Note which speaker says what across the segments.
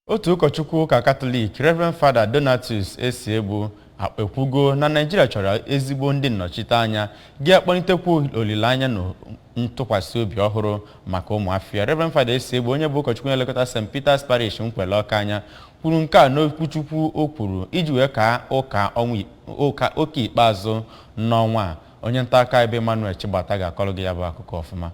Speaker 1: Otu ụkọchukwu ụka Katọlik, Reverend Fada Donatus Esiegbu, a- ekwugo na Naịjirịa chọrọ ezigbo ndị nnọchiteanya ga-akpọlitekwu olileanya na ntụkwasị obi ọhụrụ maka ụmụafọ ya. Reverend Fada Esiegbu, onye bụ ụkọchukwu na-elekọta St. Peter's Parish Nkwele Ọka anya, kwuru nke a n'okwuchukwu o kwuru iji wee kaa ụka ụka ikpeazụ n'ọnwa a. Onye nta akụkọ bụ Emmanuel Chigbata ga-akọrọ gị ya bụ akụkọ ọfụma.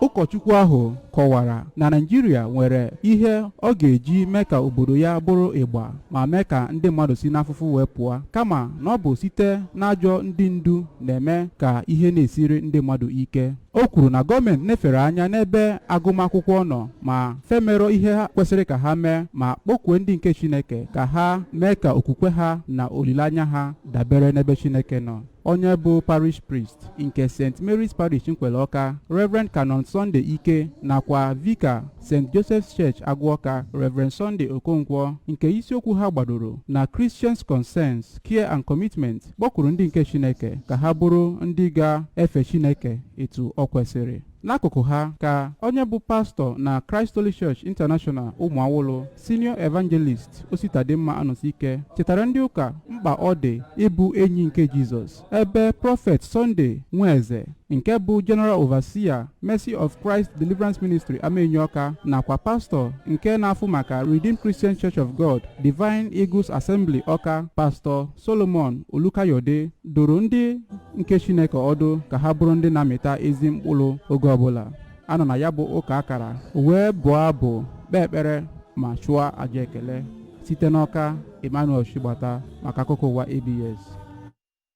Speaker 2: ụkọchukwu ahụ kọwara na naijiria nwere ihe ọ ga-eji mee ka obodo ya bụrụ ịgba ma mee ka ndị mmadụ si n'afụfụ wee pụọ kama na ọ bụ site n'ajọ ndị ndu na-eme ka ihe na-esiri ndị mmadụ ike o kwuru na gọọmenti nefere anya n'ebe agụmakwụkwọ nọ ma fa emerọ ihe ha kwesịrị ka ha mee ma kpọkwue ndị nke chineke ka ha mee ka okwukwe ha na olileanya ha dabere n'ebe chineke nọ onye bụ parish priest nke st mary's parish nkwele ọka reverend canon sunday ike nakwa vika st joseph's church agụ ọka reverend sunday okonkwo nke isiokwu ha gbadoro na christians concerns care and commitment kpọkwuru ndị nke chineke ka ha bụrụ ndị ga-efe chineke etu o kwesịrị N'akụkụ ha ka onye bụ pastọ na Christ Holy Church International Ụmụawụlụ senior evangelist Ositadimma Anọsike chetara ndị ụka mkpa ọ dị ịbụ enyi nke Jizọs ebe prọfet Sunday Nweze nke bụ General Overseer Mercy of Christ Deliverance Ministry Amaenyi Ọka nakwa pastọ nke na-afụ maka Redeemed Christian Church of God Divine Eagles Assembly Ọka pastọ solomon olukayode dụrụ ndị nke chineke ọdụ ka ha bụrụ ndị na-amịta ezi mkpụrụ oge ọbụla a nọ na ya bụ ụka a kara wee bụọ abụ kpee ekpere ma chụọ aja ekele site n'ọka emmanuel chigbata maka akụkọ ụwa abs